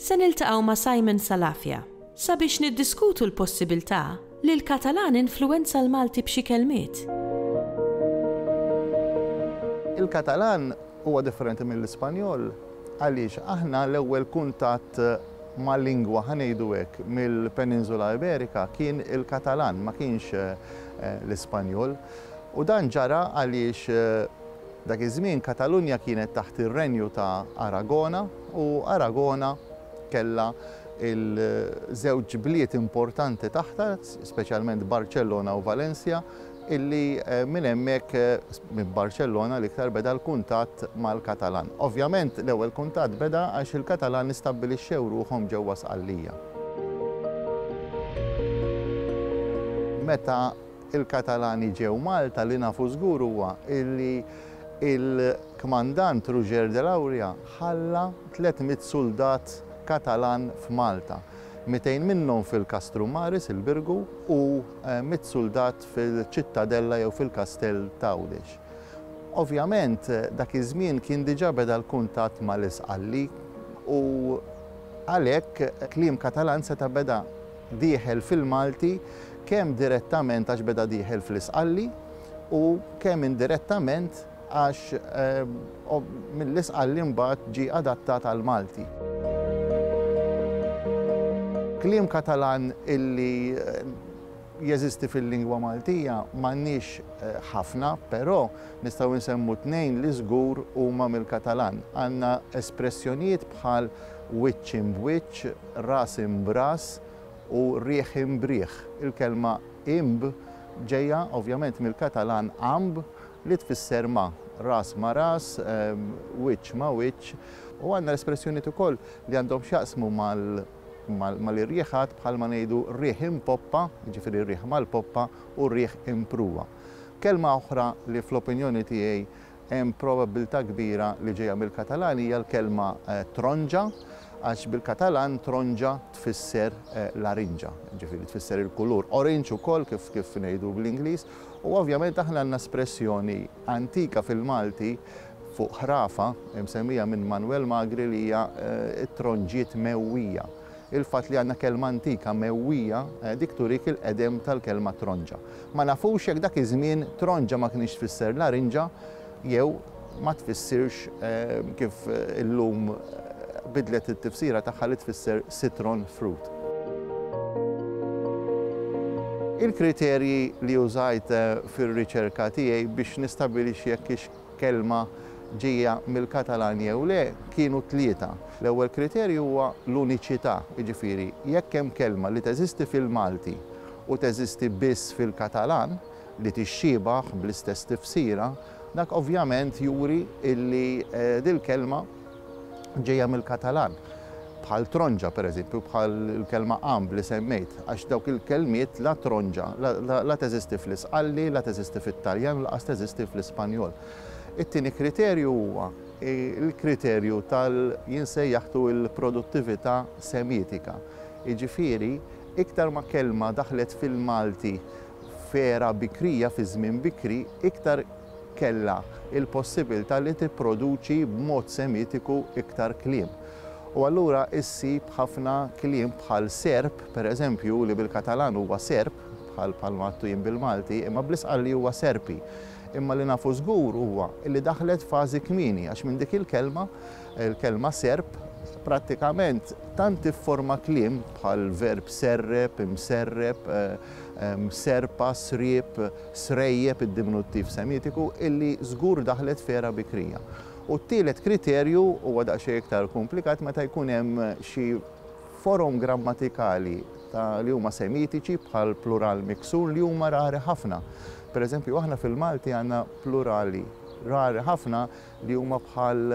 Se niltaqgħu ma' Simon Salafia sabiex niddiskutu l-possibiltà li l-Katalan influwenza l-Malti b'xi kelmiet. Il-Katalan huwa differenti mill-Ispanjol għaliex aħna l-ewwel kuntatt ma' lingwa, ħa ngħidu hekk, mill-Peninsula Iberika kien il-Katalan, ma kienx l-Ispanjol. U dan ġara għaliex dak iż-żmien Katalunja kienet taħt ir-Renju ta' Aragona. u Aragona kellha l-żewġ bliet importanti taħtha, speċjalment Barċellona u Valencia, illi minn hemmhekk, minn Barċellona l-iktar, beda l-kuntatt mal-Katalan. Ovvjament l-ewwel kuntatt beda għax il-Katalan istabbilixxew ruħhom ġewwa Sqallija. Meta l-Katalani ġew Malta, li nafu żgur huwa illi, Il-Kmandant Roger de Lauria ħalla tliet mitt suldat Katalan f'Malta, mitejn minnhom fil-Castrum Maris, il-Birgu, u mitt suldat fil-Ċittadella jew fil-Kastell t'Għawdex. Ovvjament, dak iż-żmien kien diġà beda l-kuntatt mal-Isqalli u għalhekk kliem Katalan seta' beda. dieħel fil-Malti kemm direttament għax beda dieħel fl-Isqalli u kemm indirettament għax mill-Isqalli mbagħad ġie adattat għall-Malti. Kliem Katalan illi jeżisti fil-lingwa Maltija m'għandniex ħafna, però nistgħu nsemmu tnejn li żgur huma mill-Katalan. Għandna espressjonijiet bħal wiċċ imb wiċċ, ras imb ras u riħ imb riħ. Il-kelma imb ġejja ovvjament mill-Katalan amb li tfisser ma', ras ma' ras, wiċċ ma' wiċċ, u għandna l-espressjonijiet ukoll li għandhom x'jaqsmu mal-irjieħat bħalma ngħidu riħ imb poppa, jiġifieri riħ mal-poppa u riħ imb pruwa. Kelma oħra li fl-opinjoni tiegħi Hemm probabbiltà kbira li ġejja mill-Katalan hija l-kelma tronġa, għax bil-Katalan tronġa tfisser larinġa, jiġifieri tfisser il-kulur orange ukoll kif kif ngħidu bl-Ingliż. U ovvjament aħna għandna espressjoni antika fil-Malti fuq ħrafa msemmija minn Manwel Magri li hija t-tronġiet mewwija. Il-fatt li għandna kelma antika mewwija dik turik il-qedem tal-kelma tronġa. Ma nafux jekk dak iż-żmien tronġa ma kinitx tfisser larinġa jew ma tfissirx kif illum bidlet it-tifsira tagħha li tfisser citron fruit. Il-kriterji li użajt fir-riċerka tiegħi biex nistabilixxi jekk hix kelma ġejja mill-Katalan jew le, kienu tlieta. L-ewwel kriterju huwa l-uniċità, jiġifieri jekk hemm kelma li teżisti fil-Malti u teżisti biss fil-Katalan li tixxiebah bl-istess tifsira, dak ovvjament juri li dil-kelma, ġejja mill-Katalan, bħal tronġa, pereżempju, bħal il-kelma għamb li semmejt, għax dawk il-kelmiet, la tronġa, la teżisti fl-Isqalli, la teżisti fit-Taljan u lanqas teżisti fl-Ispanjol. It-tieni kriterju huwa l-kriterju tal jinsejjaħtu l-produttività semitika. Jiġifieri, iktar ma kelma daħlet fil-Malti f'era bikrija, fi żmien bikri, iktar kellha l-possibilità li tipproduċi b'mod Semitiku iktar kliem. U allura issib ħafna kliem bħal serb, per eżempju, li bil-Katalan huwa serp, bħal bħalma għadtu jien bil-Malti, imma bl isqalli huwa serpi. Imma li nafu żgur huwa li daħlet fażi kmieni għax minn dik il-kelma, il-kelma serp, prattikament tant tifforma kliem bħal verb serrep, imserrep, serpa, sriep, srejjeb, id-diminuttiv Semitiku, illi żgur daħlet f'era bikrija. U t-tielet kriterju huwa daqsxejn iktar kumplikat meta jkun hemm xi forom grammatikali ta' li huma Semitiċi bħal plural miksur li huma rari ħafna. Per eżempju, aħna fil-Malti għandna plurali rari ħafna li huma bħal